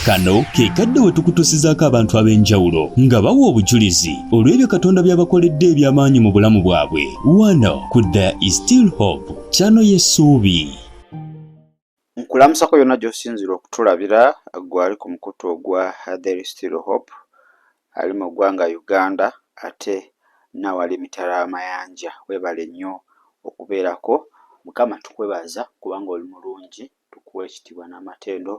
kano ke kadde we tukutusizaako abantu ab'enjawulo nga bawa obujulizi olw'ebyo katonda by'abakoledde eby'amaanyi mu bulamu bwabwe wano ku the still hope kyano y'essuubi nkulamusako yonna gy'osinzira okutulabira gwali ku mukutu ogwa the still hope ali mu ggwanga uganda ate nawali emitala amayanja webale nnyo okubeerako mukama tukwebaza kubanga oli mulungi Tukuwa ekitibwa n'amatendo,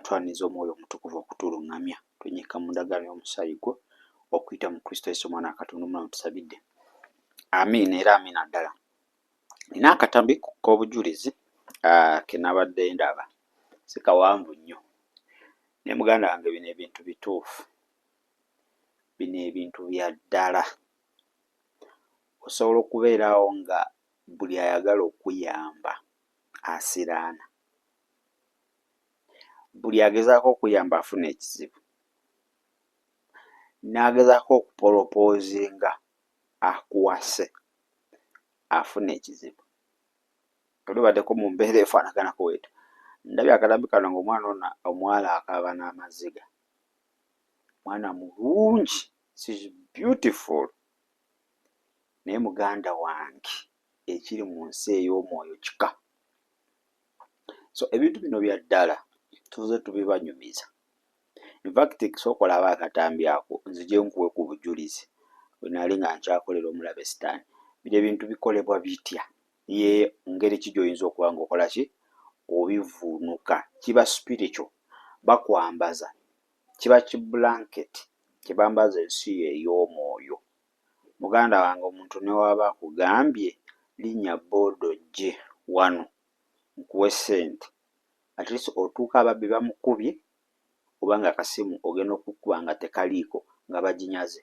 twaniza omwoyo omutukuvu okutulungamya. Twenyika mu ndagaano y'omusaayi gwo okuyita mu Kristo Yesu omwana wa Katonda omulamu tusabidde. Amiina era amiina ddala. Nina akatambi k'obujulizi ah, ke nabadde ndaba sikawanvu nnyo ne muganda wange bino ebintu bituufu bino ebintu bya ddala osobola okubeerawo nga buli ayagala okuyamba asiraana. Buli agezaako okuyamba afuna ekizibu, n'agezaako okupolopoozinga akuwase afuna ekizibu. Oli obaddeko mu mbeera efaanaganako bwetyo. Ndabye akatambi kano ng'omwana ono omuwala akaaba n'amaziga. Mwana mulungi, she's beautiful naye muganda wange. ekiri mu nsi ey'omwoyo kika. So ebintu bino bya ddala tuze tubibanyumiza. In fact sooka olaba akatambi ako nzije nkuwe ku bujulizi bwe nali nga nkyakolera omulabe sitaani. Bino ebintu bikolebwa bitya? Ye ngeri ki gy'oyinza okuba ng'okola ki obivuunuka. Kiba spiritual, bakwambaza, kiba ki blanket kye bambaza ensi yo ey'omwoyo. Muganda wange omuntu newaba akugambye linya boda ojje wano nkuwe sente at least otuuka ababbi bamukubye oba nga akasimu ogenda okukuba nga tekaliiko nga bajinyaze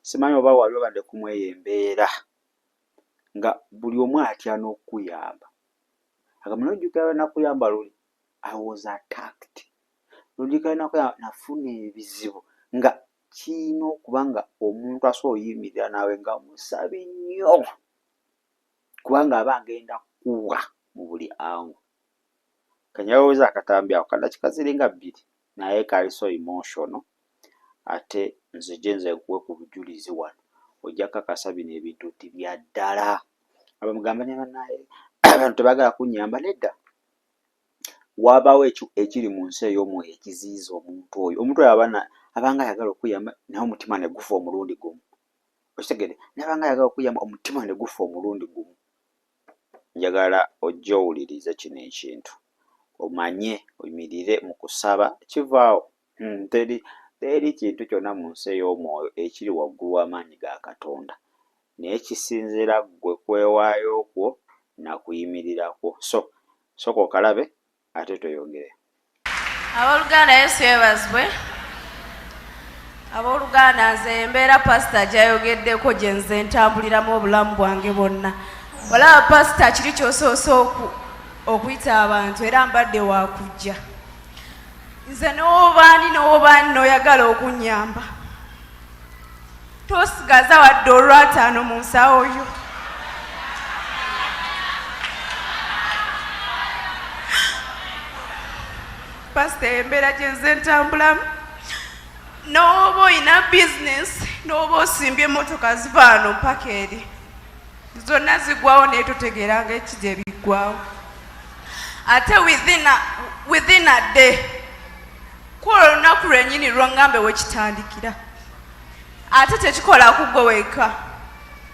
simanyi oba wali obadde kumweyo embeera nga buli omu atya n'okukuyamba agamba nojjukira lwenakuyamba luli i was attacked nojjukira lwenakuyamba nafuna ebizibu nga Kiyina okuba nga omuntu asobola oyimirira nawe nga musabi nnyo kubanga aba agenda kuwa mu buli ango. Kanyeweweze akatambi ako kadakika ziringa bbiri naye kali so emotional ate nze gyenze nkuwe ku bujulizi wano ojja kakasa bino ebintu nti bya ddala. Aba mugamba ne banaye abantu tebagala kunyamba nedda. Wabaawo ekyo ekiri mu nsi ey'omwoyo ekiziyiza omuntu oyo. Omuntu oyo aba abanga ayagala okuyamba naye omutima ne gufa omulundi gumu. Okitegede? Nabanga ayagala okuyamba omutima ne gufa omulundi gumu. Njagala ojje owulirize kino ekintu, omanye oyimirire mu kusaba kivaawo Hmm, teri, teri kintu kyonna mu nsi ey'omwoyo ekiri waggulu w'amaanyi ga Katonda. Naye kisinziira ggwe kwewaayo kwo na kuyimirira kwo. So, sooka okalabe, ate tweyongere. Ab'oluganda, Yesu yebazibwe. Ab'oluganda, nze embeera pasita gyayogeddeko gye nze ntambuliramu obulamu bwange bwonna. Olaba pasita kiri kyosoose okuyita abantu era mbadde wakujja. nze n'obaani n'obaani n'oyagala okunnyamba tosigaza wadde olwataano mu nsawo yo pasita embeera gyenze ntambulamu n'oba olina bizinesi n'oba osimbye emmotoka zivaano mpaka eri zonna zigwawo naye totegeeranga ekija ebiggwawo ate within a day kwola olunaku lwenyini lwongambe wekitandikira ate tekikola kugwe weka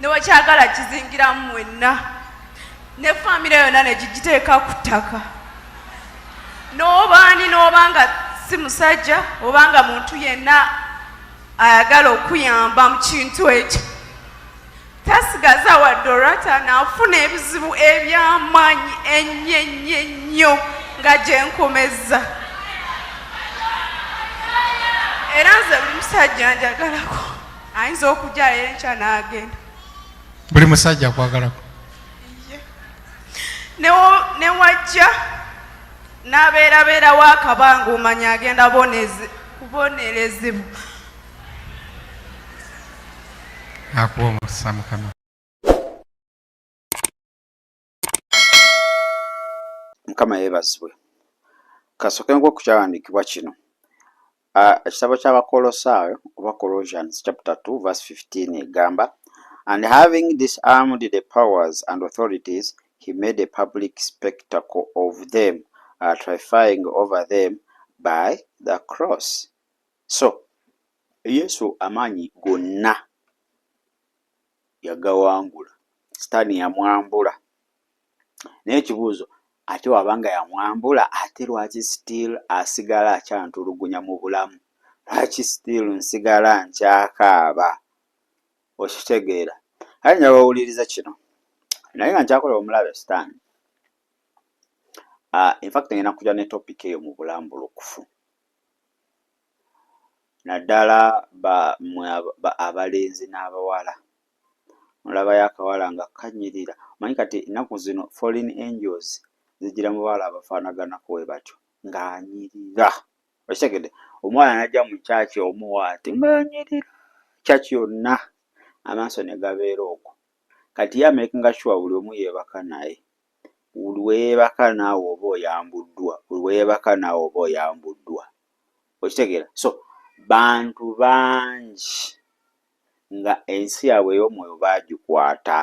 newekyagala kizingiramu mwenna ne famire yonna negigiteeka ku ttaka n'obaani n'obanga si musajja obanga muntu yenna ayagala okuyamba mu kintu ekyo Tasigaza wadde olwata naafuna ebizibu eby'amaanyi ennyo ennyo ennyo nga gye nkomezza era nze buli musajja njagalako ayinza okujjayo enkya n'agenda buli musajja akwagalako ne wajja n'abeerabeerawo akabanga omanya agenda kubonerezebwa akuwa omukisa mukama mukama yeebazibwe kasooke nku okukyawandiikibwa kino ekitabo ky'abakolosaayo oba colossians chapter 2 verse 15 egamba and having disarmed the powers and authorities he made a public spectacle of them uh, trifying over them by the cross So Yesu amaanyi gonna yagawangula, sitaani yamwambula. Naye ekibuuzo ate wabanga yamwambula ate lwaki still asigala akyantulugunya mu bulamu? Lwaki still nsigala nkyakaaba? Okitegeera? Kale njagala owuliriza kino. Naye nga nkyakola omulabe sitaani. Uh, ah, in fact ngenda kuja ne topic eyo mu bulambulukufu. naddala ba mmwe aba abalenzi n'abawala olabayo akawala nga kanyirira omanyi kati ennaku zino foreign angels zijjira mu bawala abafaanaganako bwe batyo ng'anyirira okitegedde omwana n'ajja mu kyaki omuwaati ng'anyirira kyaki yonna amaaso ne gabeera okwo kati ye amekinga sure buli omu yeebaka naye. Buli we yeebaka naawe oba oyambuddwa, buli we yeebaka naawe oba oyambuddwa. Okitegeera? So, bantu bangi nga ensi yaabwe ey'omwoyo baagikwata.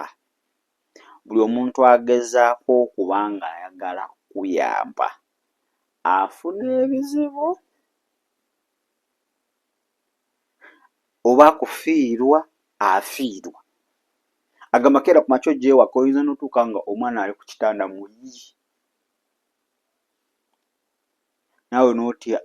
Buli omuntu agezaako okuba ng'ayagala kukuyamba afuna ebizibu. oba kufiirwa afiirwa. Agamba keera ku makya ojje ewaka oyinza n'otuuka nga omwana ali ku kitanda muyi naawe n'otya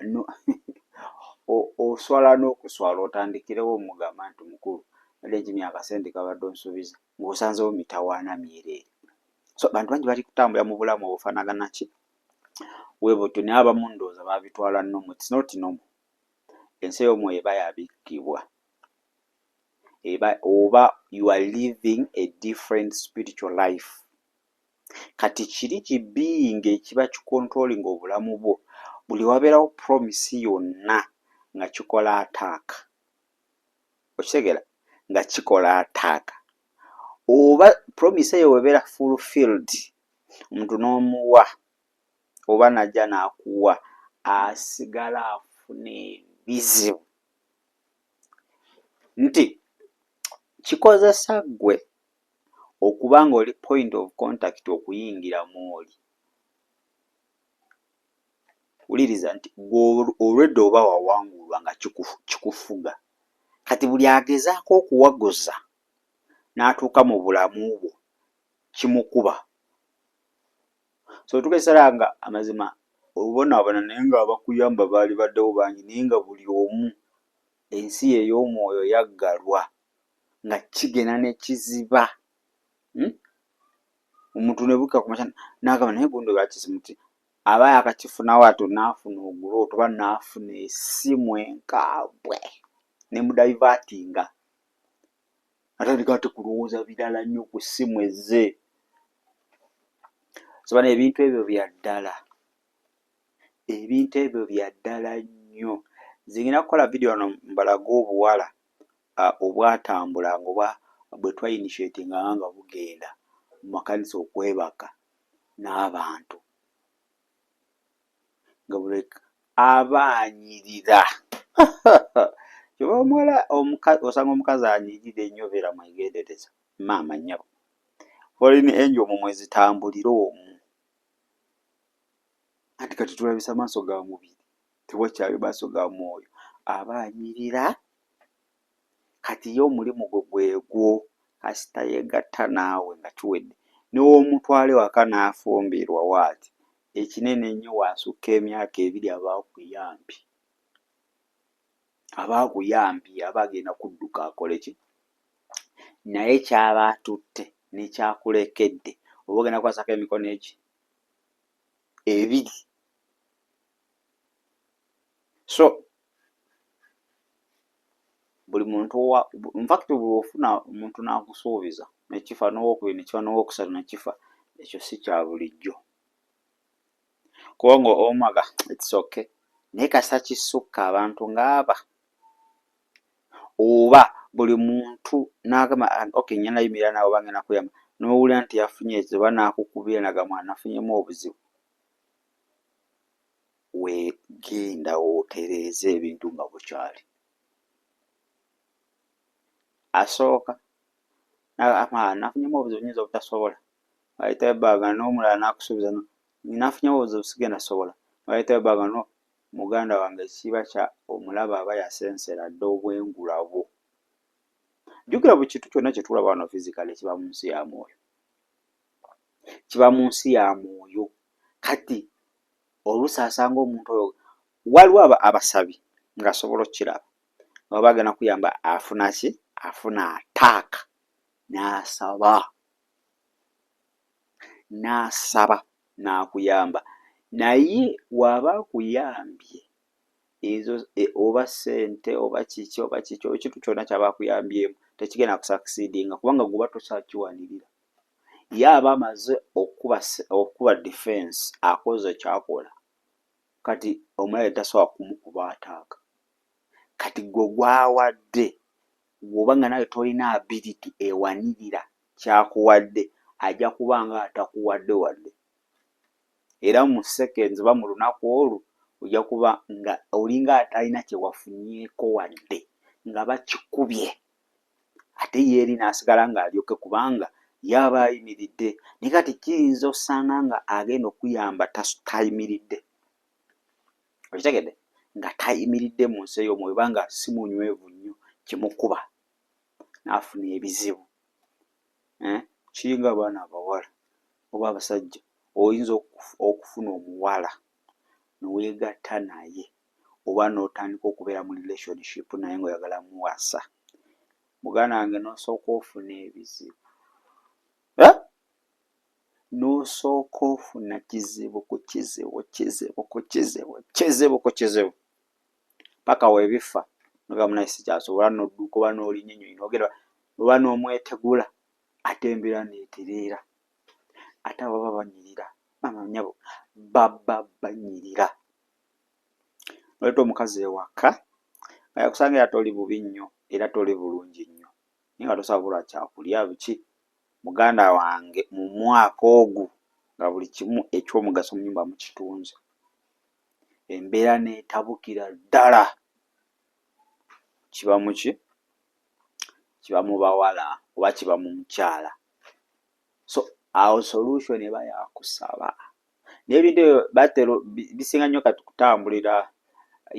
oswala n'okuswala otandikirewo omugamba nti mukulu badde nti myaka sente kabadde onsuubiza ng'osanzewo mitawaana myereere so abantu bangi bali kutambula mu bulamu obufaanagana ki we butyo naye abamu ndowooza babitwala nomu it's not normal ensi ey'omwoyo eba yabikkibwa eba oba you are living a different spiritual life kati kiri kibiyinga ekiba kikontrolinga obulamu bwo buli wabeerawo promisi yonna nga kikola ataaka okitegera nga kikola ataaka oba promisi eyo webeera full field omuntu n'omuwa oba najja nakuwa asigala afuna ebizibu nti kikozesa ggwe okuba nga oli point of contact okuyingira mwoli wuliriza nti olwedda oba wawangulwa nga kikufuga kati buli agezaako okuwaguza n'atuuka mu bulamu bwo kimukuba so otuuka ekiseera nga amazima obonaabona naye nga abakuyamba baali baddewo bangi naye nga buli omu ensi ye ey'omwoyo yaggalwa nga kigenda ne kiziba hmm? omuntu ne bukka ku makya n'agamba naye gundi olwakisi muti aba yakakifunawo ato n'afuna ogula otuba n'afuna esimu enkaabwe ne mudaivatinga natandika ate kulowooza birala nnyo ku ssimu ezze sabana ebintu ebyo bya ddala ebintu ebyo bya ddala nnyo zingina kukola vidiyo wano mbalaga obuwala obwatambula ngaoba bwe twainitiati nga nga bugenda mu makanisa okwebaka n'abantu ngabulek aba anyirira kyoba omuwala osanga omukazi anyirira enyo obeera mwegendereza maama nyabo foreign angel mu mwezitambulire omu anti kati tulabisa maaso ga mubiri tewakyali maaso ga mwoyo aba anyirira kati ye omulimu gwe gwegwo kasita yegatta naawe nga kiwedde newomutwala ewaka nafumbirwa what ekinene ennyo wasukka emyaka ebiri aba akuyambye aba akuyambye aba agenda kudduka akoleki naye kyaba atutte nekyakulekedde oba ogenda kwasako emikono eki ebiri. so buli muntu owa infact buli ofuna omuntu n'akusuubiza nekifa n'owokubiri nekifa n'owokusatu nekifa ekyo si kya bulijjo kubanga omaga its okay naye kasita kisukka abantu ng'aba oba buli muntu n'agamba okay nyana yimirira naawe oba ngenda kuyamba n'owulira nti yafunye ekizibu oba n'akukubira nagamba nafunyemu obuzibu we genda otereeze ebintu nga bukyali. Asooka nafunyemu obuzibu nyinza obutasobola ayitayo ebbanga n'omulala n'akusuubiza nafunyemu obuzibu sigenda sobola ayitayo ebbanga no muganda wange ekiba kya omulaba aba yasensera dda obwengula bwo. Jjukira buli kintu kyonna kye tulaba wano fizikale kiba mu nsi ya mwoyo. kiba mu nsi ya mwoyo kati oluusi asanga omuntu oyo waliwo abasabi ng'asobola okukiraba nga baba agenda kuyamba afuna ki afuna ataaka n'asaba n'asaba n'akuyamba naye w'aba akuyambye ezo oba sente oba kiki oba kiki ekintu kyona kyabakuyambyemu tekigenda kusakisidinga kubanga guba tosakiwanirira ye aba amaze okukuba okukuba defense akoze kyakola kati omulabe tasobola kumukuba ataaka kati gwe gwawadde gwoba nga nawe tolina ability ewanirira kyakuwadde ajja kuba nga atakuwadde wadde era mu seconds oba mu lunaku olwo ojja kuba nga olinga atalina kye wafunyeeko wadde nga bakikubye ate ye eri n'asigala ng'alyoke kubanga yaaba ayimiridde naye kati kiyinza osanga nga agenda okuyamba tayimiridde okitegedde nga tayimiridde mu nsi ey'omwoyo oba nga si munywevu nnyo kimukuba n'afuna ebizibu eh, kiringa abaana abawala oba abasajja oyinza okufuna omuwala neweegatta naye oba n'otandika okubeera mu relationship naye ngaoyagala muwasa muganda wange n'osooka ofuna ebizibu eh? n'osooka ofuna kizibu ku kizibu kizibu ku kizibu kizibu ku kizibu paka webiffa noga munaye sikyasobola noduka oba nolinya enyonyi nogenda oba nomwetegula ate embera neterera ate ababa banyirira maama nyabo baba banyirira noleta omukazi ewaka nga yakusanga era toli bubi nnyo era toli bulungi nnyo naye nga tosabula kyakulya biki muganda wange mumwaka ogu nga buli kimu ekyomugaso munyumba mukitunze embeera n'etabukira ddala kiba muki kiba mu bawala oba kiba mu mukyala so awo solution eba yakusaba naye ebintu ebyo batero bisinga nnyo kati kutambulira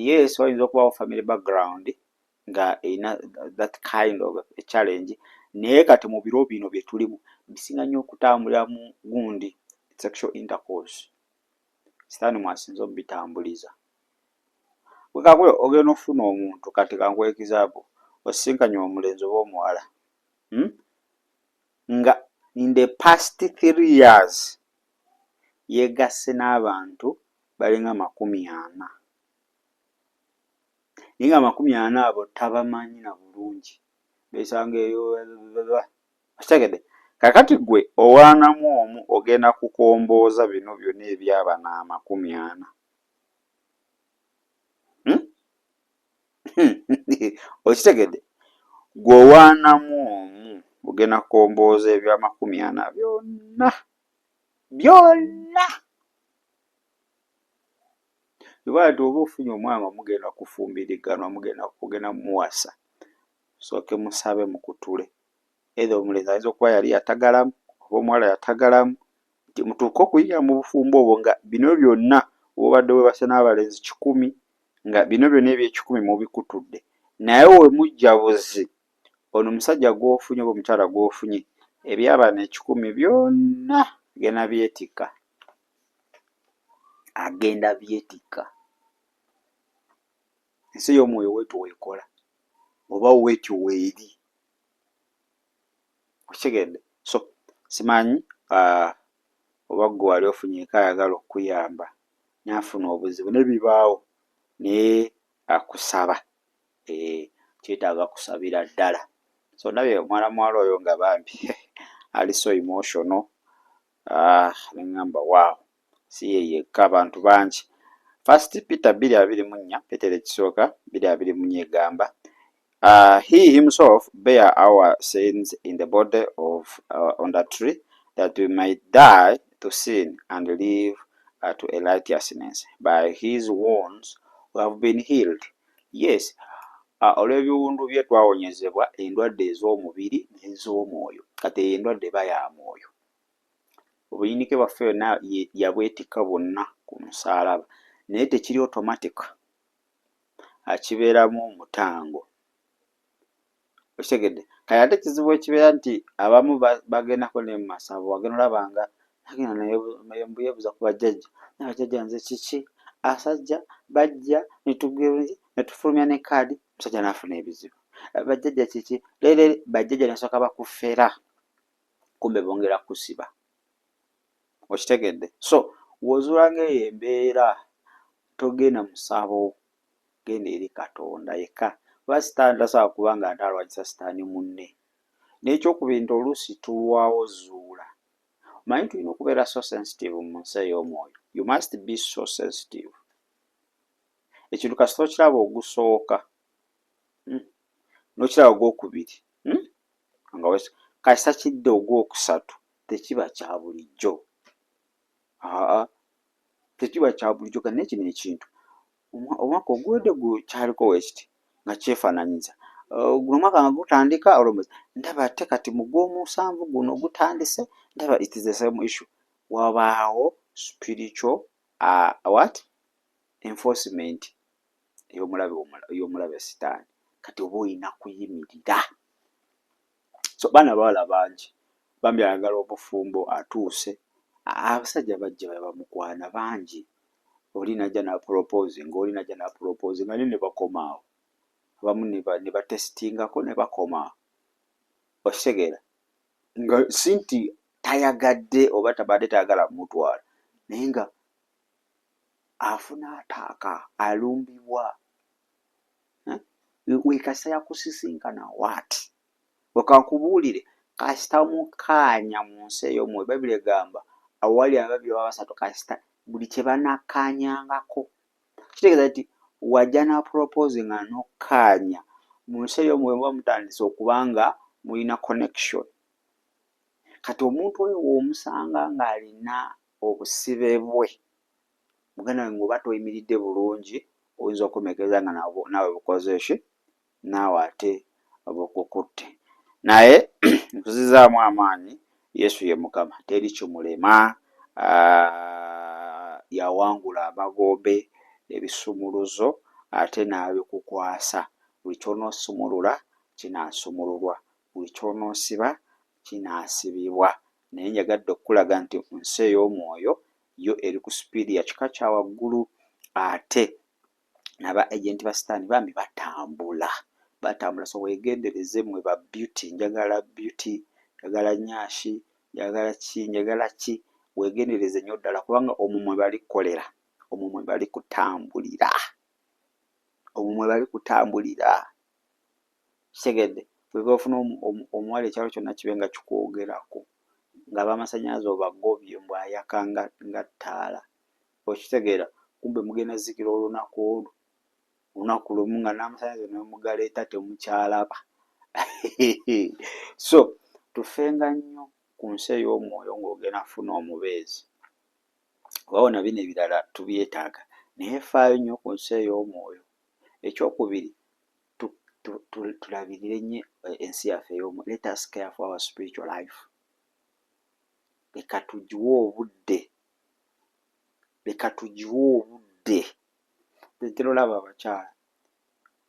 yes oyinza okubawo family background nga erina that kind of a challenge naye kati mu biro bino bye tulimu bisinga nnyo okutambulira mu gundi sexual intercourse sitaani mwasinze obitambuliza wekakule ogenda ofuna omuntu kati kankuwa ekizaabu osisinkanye omulenzi oba omuwala hmm? nga in the past three years yegasse n'abantu balinga amakumi ana naye nga amakumi ana abo tabamanyi na bulungi besanga eyo okitegedde kakati gwe owaanamu omu ogenda kukombooza bino byona ebyabana amakumi ana hmm? okitegedde gwe owaanamu omu ogenda kukombooza ebyamakumi ana byonna byonna ibaati oba ofunye omwana omugenda kufumbiriganwa mugenda kugenda muwasa sooke musabe mukutule either omulenzi ayinza okuba yali yatagalamu oba omuwala yatagalamu nti mutuuke okuyingira mu bufumbo obwo nga bino byonna obadde webase n'abalenzi kikumi nga bino byonna ebyekikumi mubikutudde naye we mujja buzi ono omusajja gw'ofunye oba omukyala gw'ofunye ebyabana ekikumi byonna gena byetikka agenda byetikka. Ensi ey'omwoyo w'etyo w'ekola, oba w'etyo w'eri. Okitegedde? So, simanyi, ah, oba ggwe wali ofunyeeko ayagala okukuyamba, naye afuna obuzibu, ne bibaawo, naye akusaba. Eeh, kyetaaga kusabira ddala. So, ndabye omwana muwala oyo nga bambi, he, he, ali so emotional, Ah, nengamba waawo si ye yekka abantu bangi first peter bbiri abiri mu nnya peter ekisooka bbiri abiri mu nnya egamba uh, he himself bear our sins in the body of uh, on the tree that we might die to sin and live uh, to a righteousness by his wounds we have been healed yes uh, olw'ebiwundu bye twawonyezebwa endwadde ez'omubiri n'ez'omwoyo kati eyo endwadde eba ya mwoyo obuyinike bwaffe yonna yabwetikka bwonna ku musaalaba naye tekiri automatic akibeeramu omutango okitegedde kale ate ekizibu ekibeera nti abamu bagendako ne mu masabo wagenda olaba nga agenda naye mbuyebuza ku bajjajja naye bajjajja nze kiki asajja bajja netugenzi netufulumya ne kaadi omusajja naafuna ebizibu bajjajja kiki leero bajjajja nasooka bakufera kumbe bongera kukusiba okitegedde so wozuula ngaeyo embeera togenda musabo genda eri katonda yekka kuba sitaani tasobola kuba nga ate alwanyisa sitaani munne n'ekyokubiri nti oluusi tulwawo zuula omanyi tulina okubeera so sensitive mu nsi ey'omwoyo you must be so sensitive ekintu kasita okiraba ogusooka hmm, nokiraba ogwokubiri hmm? nga wes kasita kidda ogwokusatu tekiba kya bulijjo aa tekiba kya bulijjo kati naye kino ekintu omwaka oguwedde gu kyaliko wekiti nga kyefananyiza guno omwaka nga gutandika olomuzi ndaba ate kati mu gw'omusanvu guno gutandise ndaba it is the same issue wabaawo spiritual uh, what enforcement ey'omulabe ey'omulabe sitaani kati oba olina kuyimirira so baana bawala bangi bambi ayagala obufumbo atuuse abasajja bajja bebamukwana bangi oli najja napropose nga oli najja napropose nga ne ne bakomaawo abamu ne batesitingako ne bakomaawo okitegeera nga si nti tayagadde oba tabadde tayagala mutwala naye nga afuna ataaka alumbibwa wekasa yakusisinkana wat wekakubuulire kasita mukaanya mu nsi eyo mwe bayibuli egamba awali ababiri oba basatu kasita buli kye banakkaanyangako kitegeeza nti wajja na propose nga nokkaanya mu nsi eyo mwe muba mutandise okuba nga mulina connection kati omuntu oyo womusanga ng'alina Obusibe bwe. Muganda wange oba toyimiridde bulungi oyinza okukomekeza nga naawe bukoze ki? Naawe ate bukukutte. Naye nkuzizaamu amaanyi Yesu ye Mukama teri kimulema. Yawangula amagombe, ebisumuluzo ate n'abikukwasa. Buli ky'onoosumulula kinaasumululwa, buli ky'onoosiba kinaasibibwa. Naye njagadde okukulaga nti nsi ey'omwoyo yo eri ku sipiidi ya kika kya waggulu, ate naba agenti ba sitaani bambi batambula, batambula. So wegendereze mwe ba beauty, njagala beauty, njagala nyashi, njagala ki, njagala ki, wegendereze nnyo ddala kubanga omwo mwe bali kukolera, omwo mwe bali kutambulira, omwo mwe bali kutambulira. kitegedde bweba ofuna omuwala ekyalo kyonna kibe nga kikwogerako nga abamasanyalaze obagobye mbu ayaka nga ttaala okitegeera kumbe mugenda zikira olunaku olwo olunaku lumu nga n'amasanyalaze nemugaleeta temukyalaba so tufenga nnyo ku nsi ey'omwoyo ng'ogenda funa omubeezi oba wona bino ebirala tubyetaaga naye faayo nnyo ku nsi ey'omwoyo Ekyokubiri tu, tu, tu, tulabirire nnyo eh, ensi yaffe ey'omu. Let us care for our spiritual life. Leka tugiwe obudde, leka tugiwe obudde. Ntera olaba abakyala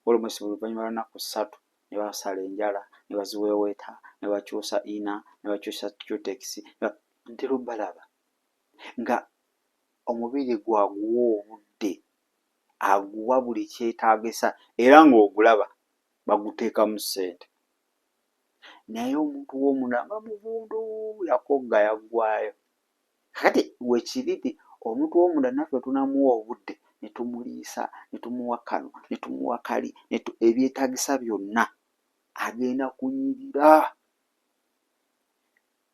olumusi buli luvannyuma lwanaku ssatu ne basala enjala ne baziweeweeta ne bakyusa ina ne bakyusa cutekisi ntera obalaba nga omubiri gwaguwa obudde aguwa buli kyetaagisa era ng'ogulaba baguteekamu ssente naye omuntu w'omunamba muvundu yakogga yaggwayo kati wekiri nti omuntu w'omunda naffe tunamuwa obudde ne tumuliisa ne tumuwa kano ne tumuwa kali ebyetaagisa byonna agenda kunyirira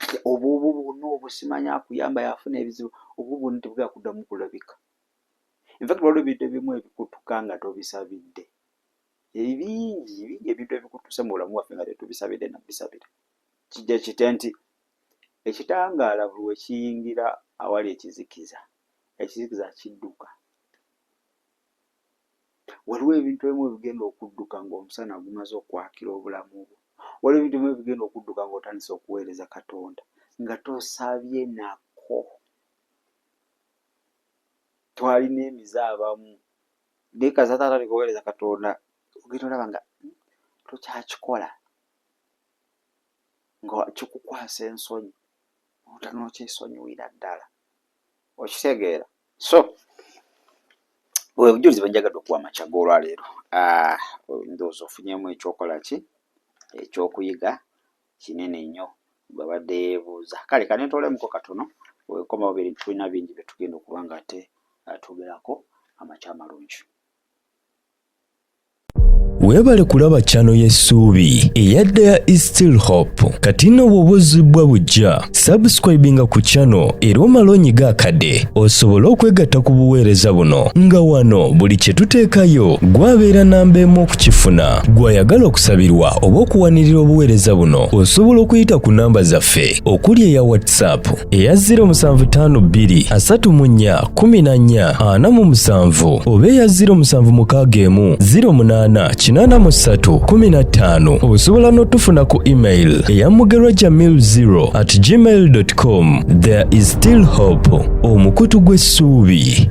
kati obwo obwo bwonna obwo simanya akuyamba yafuna ebizibu obwo bwonna tebugenda kuddamu kulabika. In fact waliwo ebintu ebimu ebikutuka nga tobisabidde. Ebingi bingi ebintu ebikutuse mu bulamu bwaffe nga tetubisabidde na bisabira. Kijja kite nti ekitangaala buli we kiyingira awali ekizikiza, ekizikiza kidduka. Waliwo ebintu ebimu ebigenda okudduka ng'omusana gumaze okwakira obulamu bwo. Waliwo ebintu ebimu ebigenda okudduka ng'otandise okuweereza Katonda nga tosabye nako. twalina emize abamu naye kazata atandika okuweereza katonda ogenda olaba nga tokyakikola nga kikukwasa ensonyi otanokyesonyiwira ddala okitegeera so bwe bujulizi bwenjagadde okuwa amakya g'olwaleero ah, ndowooza ofunyemu ekyokola ki ekyokuyiga kinene nnyo bw'abadde yeebuuza. Kale kanetoolemuko katono wekomawo biri tulina bingi bye tugenda okuba nga ate uh, twogerako amakya amalungi. Weebale kulaba chano y'essuubi eyadda ya East Hope. Kati nno bw'oba ozzibbwa buggya subscribinga ku channel era omala onyiga akade osobole okwegatta ku buweereza buno nga wano buli kye tuteekayo gwabeera namba emu okukifuna gwayagala okusabirwa oba okuwanirira obuweereza buno osobola okuyita ku namba zaffe okuli eya whatsapp eya 0752 34 kumi na nnya ana mu musanvu oba eya ziro musanvu mukaaga emu ziro munaana kinaana mu ssatu kumi na ttaano osobola n'otufuna ku email eya mugerwa jamil zero at gmail com there is still hope omukutu gw'essuubi